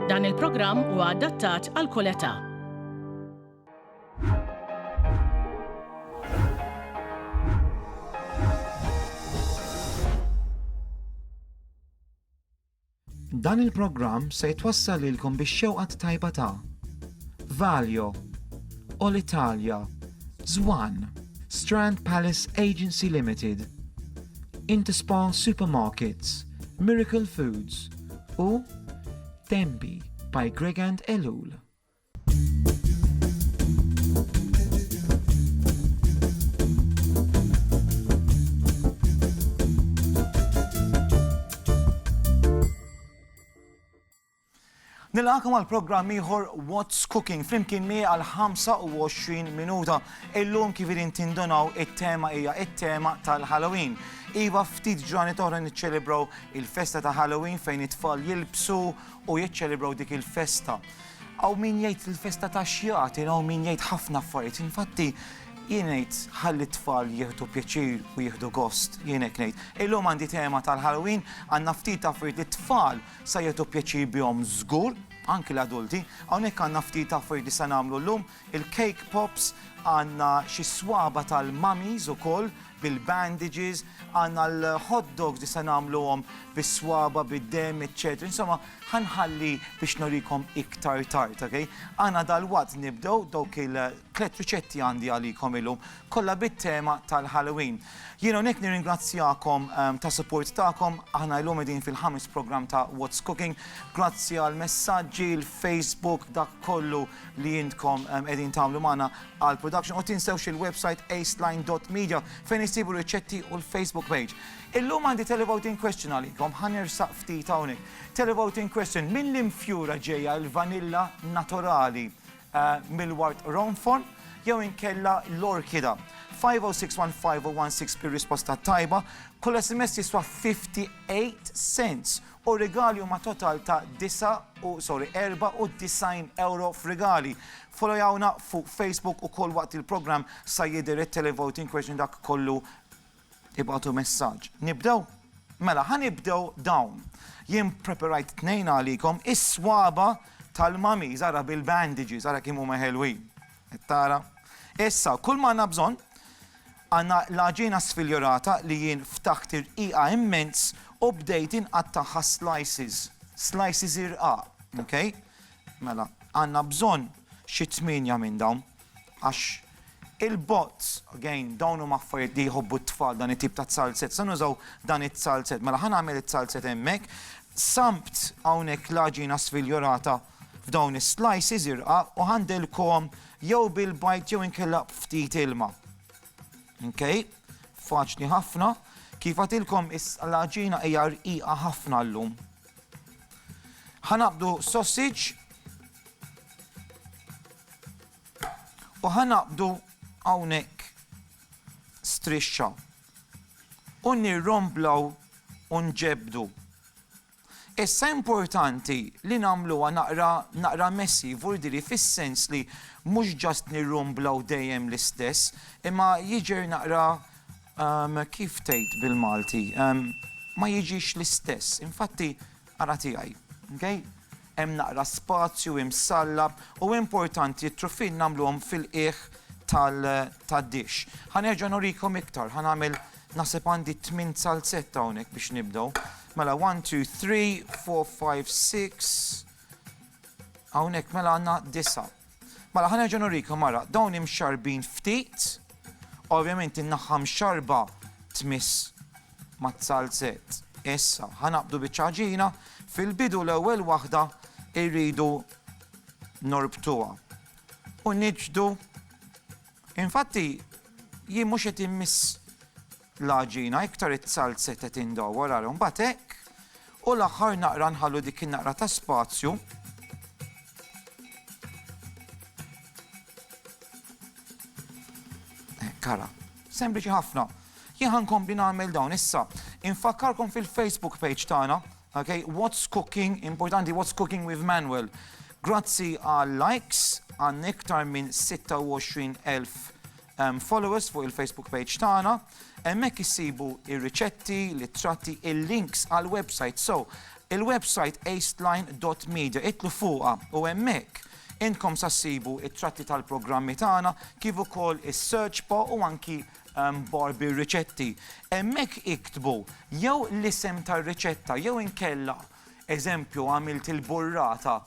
Dan il-programm huwa adattat għal kull età. Dan il-programm se jitwassal lilkom biex xewqat tajba ta' Valjo, All Italia, Zwan, Strand Palace Agency Limited, Interspa Supermarkets, Miracle Foods, u Bambi by Gregand Elul. Nilaqakom għal programm ieħor What's Cooking flimkien mi għal 25 minuta. Illum kif idin tindonaw it-tema hija it-tema tal-Halloween. Iva ftit ġranet oħra niċċelebraw Il-festa ta' Halloween fejn it-tfal jilbsu u jiċċelebraw dik il-festa. Hawn min jgħid il-festa ta' xjatin, hawn min jgħid ħafna affarijiet. Infatti, jien ngħid ħalli t-tfal jieħdu pjaċir u jieħdu gost, jien hekk ngħid. Illum għandi tema tal-Halloween, għandna ftit affarijiet li t-tfal sa jieħdu pjaċir bihom żgur, anki l-adulti, hawnhekk għandna ftit affarijiet li sa nagħmlu llum, Il-cake pops għandna xi swaba' tal-mummies ukoll bil-bandages, għandna l-hot dogs li se nagħmluhom bis-swaba' bid-demm eċċetera. Insomma, ħa nħalli biex nurikom iktar tard, ok? Aħna dalwaqt nibdew dawk il-tliet riċetti għandi għalikom illum, kollha bit-tema tal-Halloween. Jien hawnhekk nirringrazzjakom tas-support tagħkom, aħna llum qegħdin fil-ħames programm ta' What's Cooking. Grazzi għall-messaġġi, il-Facebook, dak kollu. li intkom qegħdin tagħmlu magħna għal production u tinsewx il-website aceline.media fejn isibu riċetti u l-Facebook page. Illum għandi televoting question għalikom ħanersaq ftit hawnhekk. Televoting question minn l-infjura ġejja l-vanilla naturali eh, mill-wart ronfon jew inkella l-orkida. 5061501 bir-risposta tajba, kull SMS jiswa 58 cents u rigali huma total ta' 94 ewro f'rigali. Followjawna fuq Facebook ukoll waqt il-programm sa jidher it-televoting question dak kollu ibgħatu messaġġ. Nibdew? Mela ħa nibdew dawn. Jien preparajt tnejn għalikom is-swaba' tal-mummies ara bil-bandages ara kemm huma ħelwin. Qed tara? Issa, kull ma għandna bżonn, għandna l-għaġiena sfiljurata li jien ftaħt irqiqa immens u bdejt inqattagħha slices, slices irqaq, ok? Mela, għandna bżonn xi tmienja minn dawn għax il-bots, again, dawn huma affarijiet li jħobbu t-tfal dan it-tip ta' salzet, se nużaw dan it-salzet, mela ħa nagħmel it-salzet hemmhekk, sampt hawnhekk l-għaġiena sfiljurata F'dawn is-slices irqa' u ħandilkhom jew bil-bajd jew inkella b'ftit ilma. Ok? Faċli ħafna. Kif għatilkom is-salaġina hija rqiqa ħafna llum. Ħanaqbdu sausage u ħanaqbdu hawnhekk strixxa u nirromblaw u nġebdu. Issa importanti li nagħmluha naqra naqra messy, vur diri fis-sens li mhux just nirrumblaw dejjem l-istess, imma jiġer naqra ehm, kif tgħid bil-Malti, ehm, ma jiġix l-istess. Infatti, ara tiegħi, okay? Hemm naqra spazju imsalla u importanti t-truffin nagħmluhom fil-qiegħ tad-dixx. Ħa nerġa' nurikom iktar, ħa nagħmel naħseb għandi tmien salzetta hawnhekk biex nibdew. Mela one, two, three, four, five, six. Hawnhekk mela għandna disa'. Mela ħa nerġa' nurikom ara, dawn imxarrbin ftit, ovvjament in-naħħa mxarrba tmiss maz-zalzett. Issa ħa naqbdu biċċa għaġina, fil-bidu l-ewwel waħda irridu norbtuha u niġdu. Infatti jien mhux qed immiss l-għaġina, iktar it-salt se qed indawwar ara mbagħad hekk, u l-aħħar naqra nħallu dik in-naqra ta' spazju. Hekk ara. Sempliċi ħafna. Jien ħankompli nagħmel dawn issa. Infakkarkom fil-Facebook page tagħna, okay, What's Cooking, importanti What's Cooking with Manuel. Grazzi għal likes għan iktar minn 26,000 Follow us fuq il-Facebook page tagħna. Hemmhekk issibu ir-riċetti, l-ittratti, il-links għall-website. So, il-website aceline.media itlu fuqha u hemmhekk intkom sa ssibu it-tratti tal-programmi tagħna kif ukoll is-search pa u anki bar bir-riċetti. Hemmhekk iktbu jew l-isem tar-riċetta jew inkella Eżempju, għamilt il-burrata.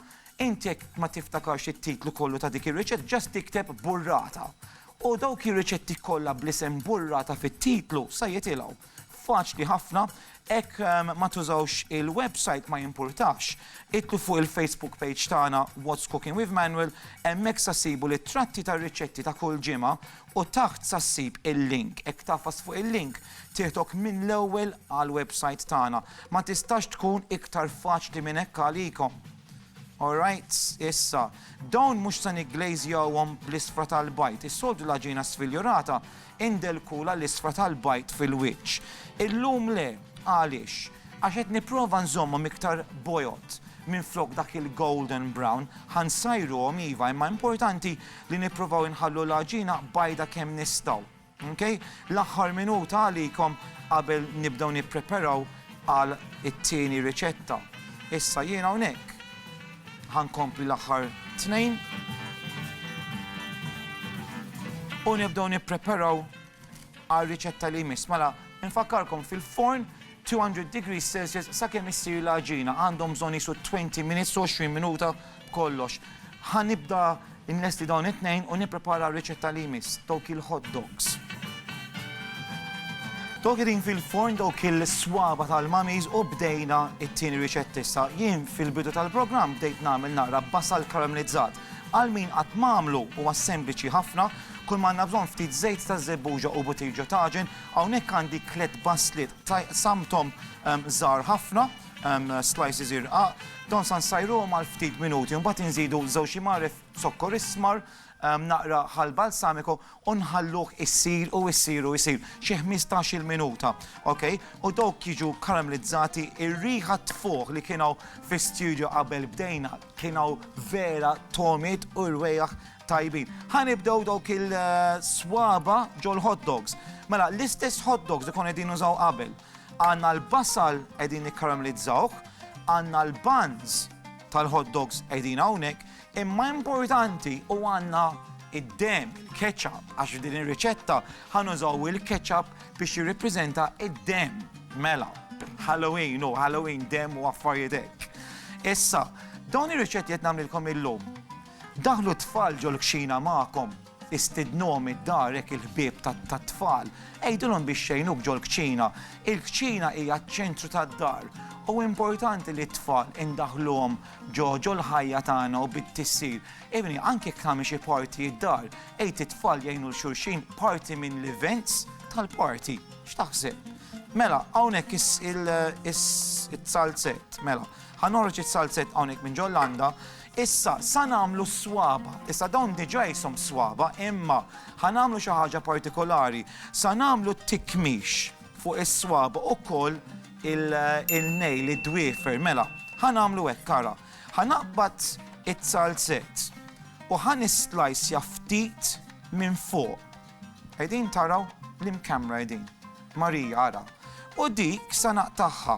Inti jekk ma tiftakarx it-titlu kollu ta' dik ir-riċetta, just tikteb burrata. U dawk ir-riċetti kollha bl-isem burrata fit-titlu sa jitilgħu. Faċli ħafna, hekk ma tużawx il-website ma jimpurtax. Idħlu fuq il-Facebook page tagħna What's Cooking with Manuel, hemmhekk sa ssibu l-ittratti tar-riċetti ta' kull ġimgħa U taħt sa ssib il-link. Hekk tagħfas fuq il-link, tieħdok mill-ewwel għall-websajt tagħna. Ma tistax tkun iktar faċli minn hekk għalikom. Alright, issa, dawn mhux se nigglejżjawhom bl-isfra tal-bajd. Is-soltu l-għaġina sfiljurata indelkulha l-isfra tal-bajd fil-wiċċ. Illum le. Għaliex? Għax qed nipprova nżommhom iktar bojod minflok dak il-golden brown. Ħa nsajruhom iva, imma importanti li nippruvaw inħallu l-għaġina bajda kemm nistgħu. Ok? L-aħħar minuta għalikom qabel nibdew nippreparaw għal it-tieni riċetta. Issa jiena hawnhekk ħankompli l-aħħar tnejn u nibdew nippreparaw għal riċetta li jmiss. Mela, nfakkarkom fil-forn 200 degrees Celsius sakemm issir l-għaġina għandhom bżonn jisu 20 minutes, 20 minuta kollox. Ħa nibda innesti dawn it-tnejn u nipprepara r-riċetta li jmiss, dawk il-hot dogs. Dawk qegħdin fil-forn dawk il-swaba tal-mummies u bdejna it-tieni riċetta issa. Jien fil-bidu tal-programm bdejt nagħmel naqra basal karamelizzat. Għal min qatt m'għamlu huwa sempliċi ħafna, kull ma għandna bżonn ftit żejt ta' żebbuġa u butir ġo tagħġen, hawnhekk għandi tliet basliet, qsamthom żgħar ħafna, slices irqaq, dawn sa nsajruhom għal ftit minuti u mbagħad inżidu żewġ imgħaref zokkor ismar, naqra ħall balsamico u nħalluh isir u isir u isir xi ħmistax-il minuta, ok? U dawk jiġu karamelizzati, ir-riħa tfugħ li kien hawn fi studio qabel bdejna kien hawn vera togħmiet u rwejjaħ tajbin. Ħa nibdew dawk il-swaba ġol-hot dogs. Mela, l-istess hot dogs li konna qegħdin nużaw qabel. Għandna l-basal qegħdin nikkaramellizzawh, għandna l-buns tal-hot dogs qegħdin hawnhekk, imma importanti u għandna id-dem, il-ketchup, għax f'din ir-riċetta ħa nużaw il-ketchup biex jirrippreżenta id-dem. Mela, Halloween u Halloween dem u affarijiet hekk. Issa, dawn ir-riċetti qed nagħmlilkom illum. Daħlu t-tfal ġol-kxina magħkom. Istidnuhom id-dar hekk il-ħbieb tat-tfal. Għidilhom biex jgħinuk ġol-kċina. Il-kċina hija ċ-ċentru tad-dar u importanti li t-tfal indaħħluhom ġo ġol-ħajja tagħna u bit-tissir. Ibni, anki jekk tagħmel xi party id-dar, għid it-tfal jgħinu 'l xulxin parti minn l-events tal-party. X'taħseb? Mela, hawnhekk is-salzett, mela, ħa noħroġ is-salzett hawnhekk minn ġol-landa, Issa, sa nagħmlu s-swaba'. Issa dawn diġà qishom swaba', imma ħa nagħmlu xi ħaġa partikolari. Sa nagħmlu t-tikmix fuq is-swaba' ukoll il-nail, id-dwiefer. Mela, ħa nagħmlu hekk, ara. Ħa naqbad iz-zalzett u ħa nislajsja ftit minn fuq. Qegħdin taraw? Liem camera hi din? Marija, ara. U dik sa naqtagħha.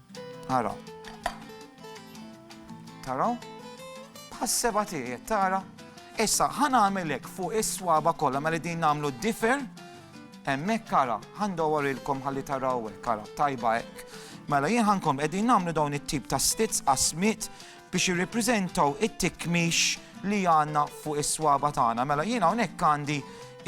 Ara. Taraw? Bħas-seba' tiegħi tara. Issa ħan nagħmel hekk fuq is-swaba kollha mela din nagħmlu differ. Hemmhekk kara, ħandowar ilkom ħalli taraw hekk kara, tajba hekk. Mela jien ħankom qegħdin nagħmlu dawn it-tip ta' stitz qasmiet biex jirripreżentaw it-tikmix li għandna fuq is-swaba' tagħna. Mela jien hawnhekk għandi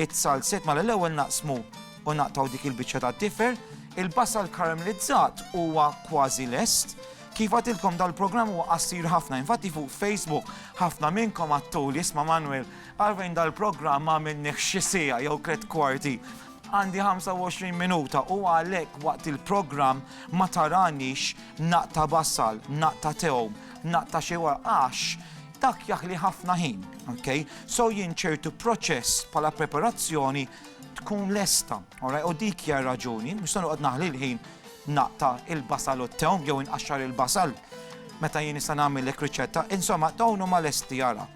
it-salzett, mela l-ewwel naqsmu u naqtgħu dik il-biċċa tad-difer, il-basal karamelizzat huwa kważi lest. Kif għatilkom dal-programm huwa qasir ħafna, infatti fuq Facebook ħafna minnkom għattuli isma' Manwel għalfejn dal-programm għamilnih xi siegħa jew tliet kwarti. Għandi 25 minuta u għalhekk waqt il-programm ma taranix naqta' basal, naqta' tewm, naqta' xi waraq għax dak jaħli ħafna ħin, ok? So jien ċertu proċess bħala preparazzjoni tkun lesta, alright? U dik hija raġuni, mhux se noqgħod naħli l-ħin naqta' il-basal u t-tewm jew inqaxxar il-basal meta jien nista' nagħmillek riċetta, insomma dawn huma lesti ara.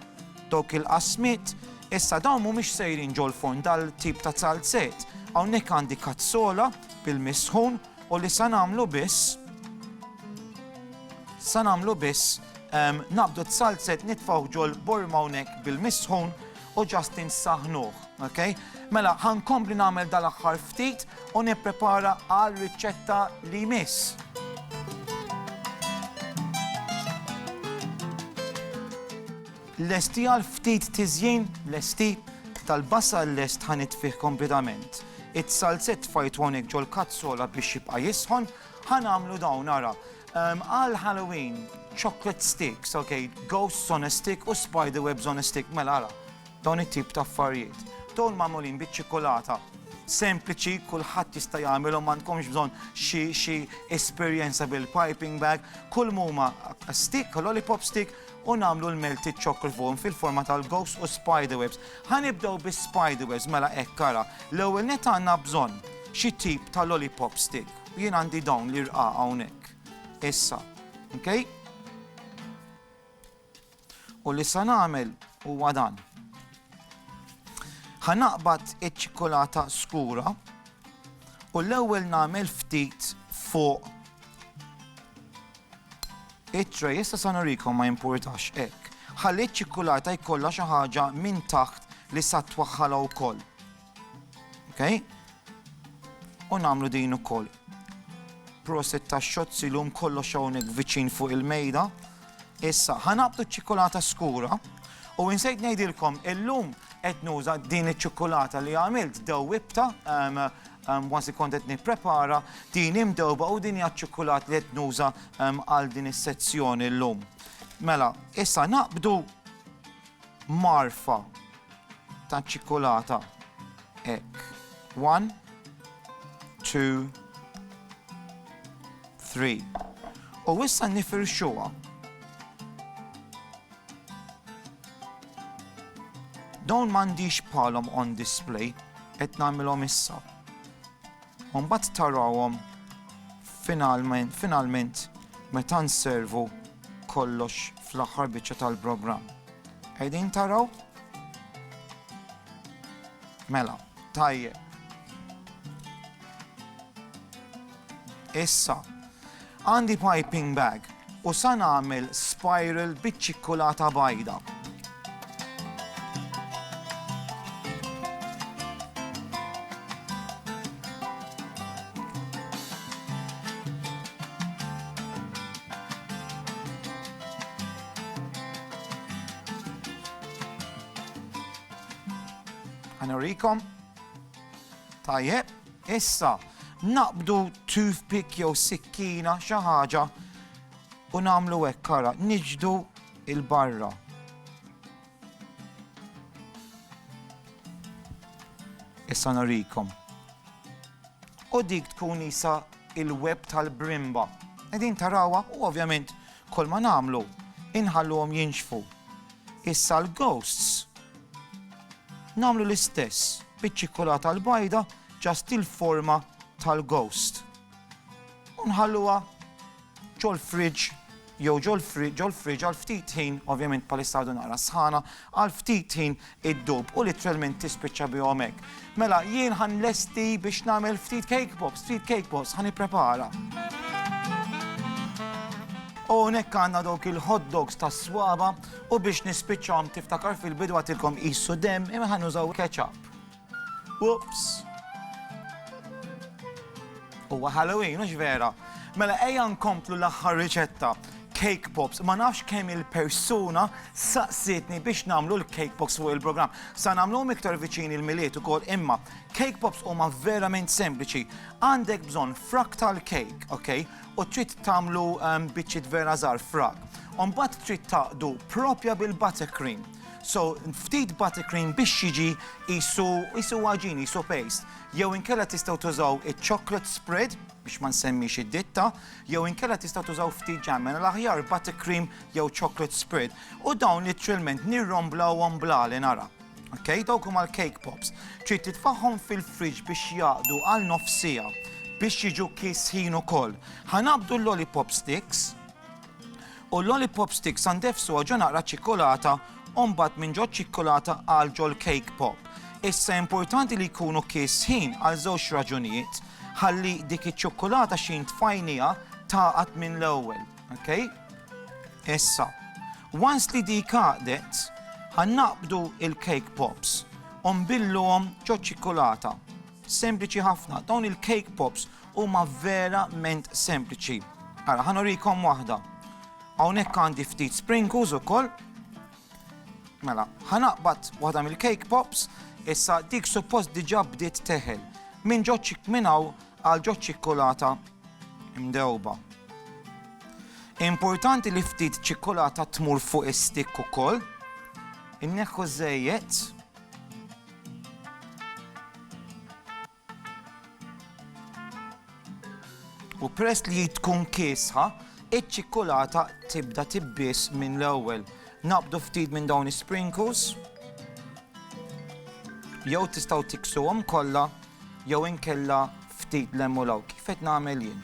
Dawk il-qasmiet, issa dawn mhumiex sejrin ġol-forn dal tip ta' zalzet. Hawnhekk għandi kazzola bil-misħun u li sa nagħmlu biss, sa nagħmlu biss naqbdu z-zalzet nitfgħuh ġol-borma hawnhekk bil-misħun u just insaħħnuh. Ok, mela ħa nkompli nagħmel dal-aħħar ftit u nipprepara għal riċetta li jmiss. Lesti għal ftit tiżjin, lesti tal-basal lest ħanit fih kompletament. It-salzet fajtwonek ġol kazzola biex jibqa' jisħon, ħanamlu dawn nara. Ehm, għal Halloween, chocolate sticks, ok, ghosts on a stick u spider webs on a stick, mela ara. Dawn it-tip ta' affarijiet. Dawn magħmulin biċ-ċikulata. Sempliċi, kulħadd jista' jagħmilhom, m'għandkomx bżonn xi xi esperjenza bil-piping bag. Kull m'huma stick, lollipop stick, u nagħmlu l-melted chocolate fuqhom fil-forma tal-ghost u spider webs. Ħa nibdew bis-spider webs, mela hekk ara. L-ewwel nett għandna bżonn xi tip ta' lollipop stick. Jien għandi dawn li rqaq hawnhekk. Issa, okej? U li se nagħmel huwa dan. Ħa naqbad iċ-ċikkulata skura u l-ewwel nagħmel ftit fuq it-tray, issa sa nurikom ma jimpurtax hekk. Ħalli ċ-ċikkulata jkollha xi ħaġa minn taħt li sa twaħħalha wkoll. Okay? U namlu din ukoll. Proset ta' xozzi lum kollox hawnhekk viċin fuq il-mejda. Issa, ħanabtu ċ-ċikolata skura u insejt ngħidilkom illum qed nuża din iċ-ċikolata li għamilt dewwibta ehm, ehm, wasi kont qed nipprepara din imdewba u din hija ċ-ċikolat li qed nuża ehm, għal din is-sezzjoni llum. Mela, issa naqbdu mgħarrfa taċ-ċikkulata hekk, one, two, three. U issa nifirxuha. Dawn m'għandix bħalhom on display, qed nagħmilhom issa. U mbagħad tarawhom finalment meta nservu kollox fl-aħħar biċċa tal-programm. Qegħdin taraw? Mela, tajjeb. Issa, Għandi piping bag u sa nagħmel spiral biċ-ċikkulata bajda. Għanurikom. Tajjeb. Issa, naqbdu toothpick jew sikkina, xi ħaġa, u nagħmlu hekk, ara, niġdu 'l barra. Issa nurikom. U dik tkun isa il-web tal-brimba. Qegħdin tarawha u ovvjament kol ma nagħmlu inħalluhom jinxfu. Issa l-ghosts Nagħmlu l-istess biċ-ċikkulata l-bajda just il-forma tal-ghost. U nħalluha ġol-fridge jew ġol-fridge għal ftit ħin, ovvjament palissa għadu nara sħana, għal ftit ħin id-dub u literalment tispiċċa bihom hekk. Mela jien ħan lesti biex nagħmel ftit cake pops, ftit cake pops ħan ipprepara. U nek għandna dawk il-hot dogs tas-swaba U biex nispiċċahom tiftakar fil-bidu għatilkom qissu dem imma ħan użaw ketchup. Ups. Huwa Halloween, mhux vera. Mela ejja nkomplu l-aħħar riċetta cake pops. Ma nafx kemm il-persuna saqsitni biex namlu l-cake pops fuq il-programm. Sa namlu iktar viċin il-miliet ukoll imma cake pops huma verament sempliċi. Għandek bżonn fraktal cake, ok? u trid tagħmlu ehm, biċċiet vera żgħar fraq. U mbagħad trid taqdu propja bil-butter cream. So, ftit butter cream biex jiġi jisu jisu għagġin, jisu paste. Jew inkella tistaw tużaw il-chocolate spread biex ma nsemmix id-ditta, jew inkella tistaw tużaw ftit ġammen mela l-aħjar butter cream jew chocolate spread. U dawn literalment nirromblawhom bla li nara. Ok, dawk huma l-cake pops. Trid titfagħhom fil-friġġ biex jaqdu għal nof sija biex jiġu kisħin ukoll. Ħanabdu l-lollipop sticks u l-lollipop sticks għandefsu ġo naqra ċikkulata u mbagħad minn ġo ċikkulata għal ġo l-cake pop. Issa importanti li jkunu kisħin għal żewġ raġunijiet ħalli dik iċ-ċikkulata xi tfajnija taqat minn l-ewwel. Ok? Issa, once li di kaqdet, ħannaqbdu il-cake pops u nbilluhom ġo ċikkulata. Sempliċi ħafna, dawn il-cake pops huma verament sempliċi. Ara, ħanurikom waħda. Hawnhekk għandi ftit sprinkles ukoll. Mela, ħa naqbad waħda mill-cake pops, issa dik suppost diġà bdiet teħel. Minn ġo minn hawn għal ġo ċikkulata mdewba. Importanti li ftit ċikkulata tmur fuq is-stikk ukoll. Inneħħu żejjed. U peress li hi tkun kiesħa, iċ-ċikkulata tibda tibbies minn l-ewwel. Naqbdu ftit minn dawn is-sprinkles jew tistgħu tiksuhom kollha jew inkella ftit lemmu law kif qed nagħmel jien.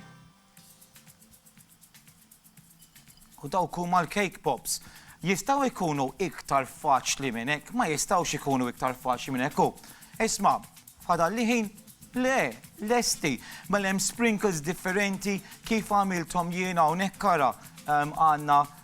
U dawk huma l-cake pops. Jistgħu jkunu iktar faċli minn hekk? Ma jistgħux ikunu iktar faċli minn hekk, hu. Isma', fadalli ħin? Le, lesti. Mela hemm sprinkles differenti, kif għamilthom jien hawnhekk ara, għandna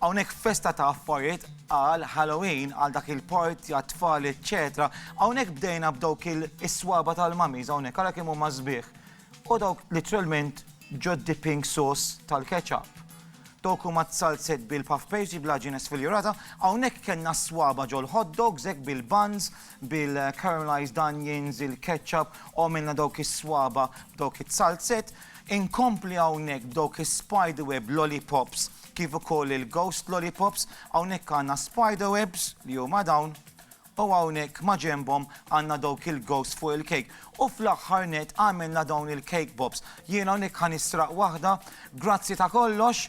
Hawnhekk festa ta' affarijiet għal Halloween, għal dak il-port, għal tfal, eċċetera. Hawnhekk bdejna b'dawk il-swaba tal-mamiż hawnhekk għalhekk kemm huma sbieħ. U dawk literalment ġod dipping sauce tal-ketchup. Dawk huma t-salzet bil-puff pastry bl-ġines fil-jurata, hawnhekk kellna swaba ġol hot dogs hekk bil-buns, bil-caramelized onions, il-ketchup u għamilna dawk is-swaba' b'dawk it-salzet. Inkompli hawnhekk b'dawk is-spider web lollipops kif ukoll il-ghost lollipops. Hawnhekk għandna spider webs li huma dawn u hawnhekk maġenbhom għandna dawk il-ghosts fuq il-cake. U fl-aħħar nett għamilna dawn il-cake pops. Jien hawnhekk ħa nisraq waħda. Grazzi ta' kollox.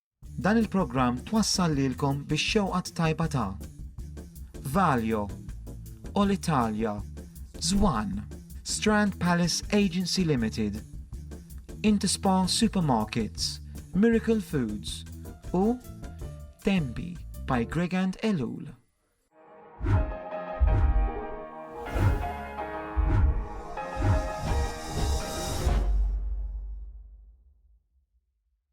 Dan il-programm twassal lilkom bix-xewqa t-tajba ta' Valjo, Olitalia, Zwan, Strand Palace Agency Limited, Interspa Supermarkets, Miracle Foods u Tempi by Gregand Ellul.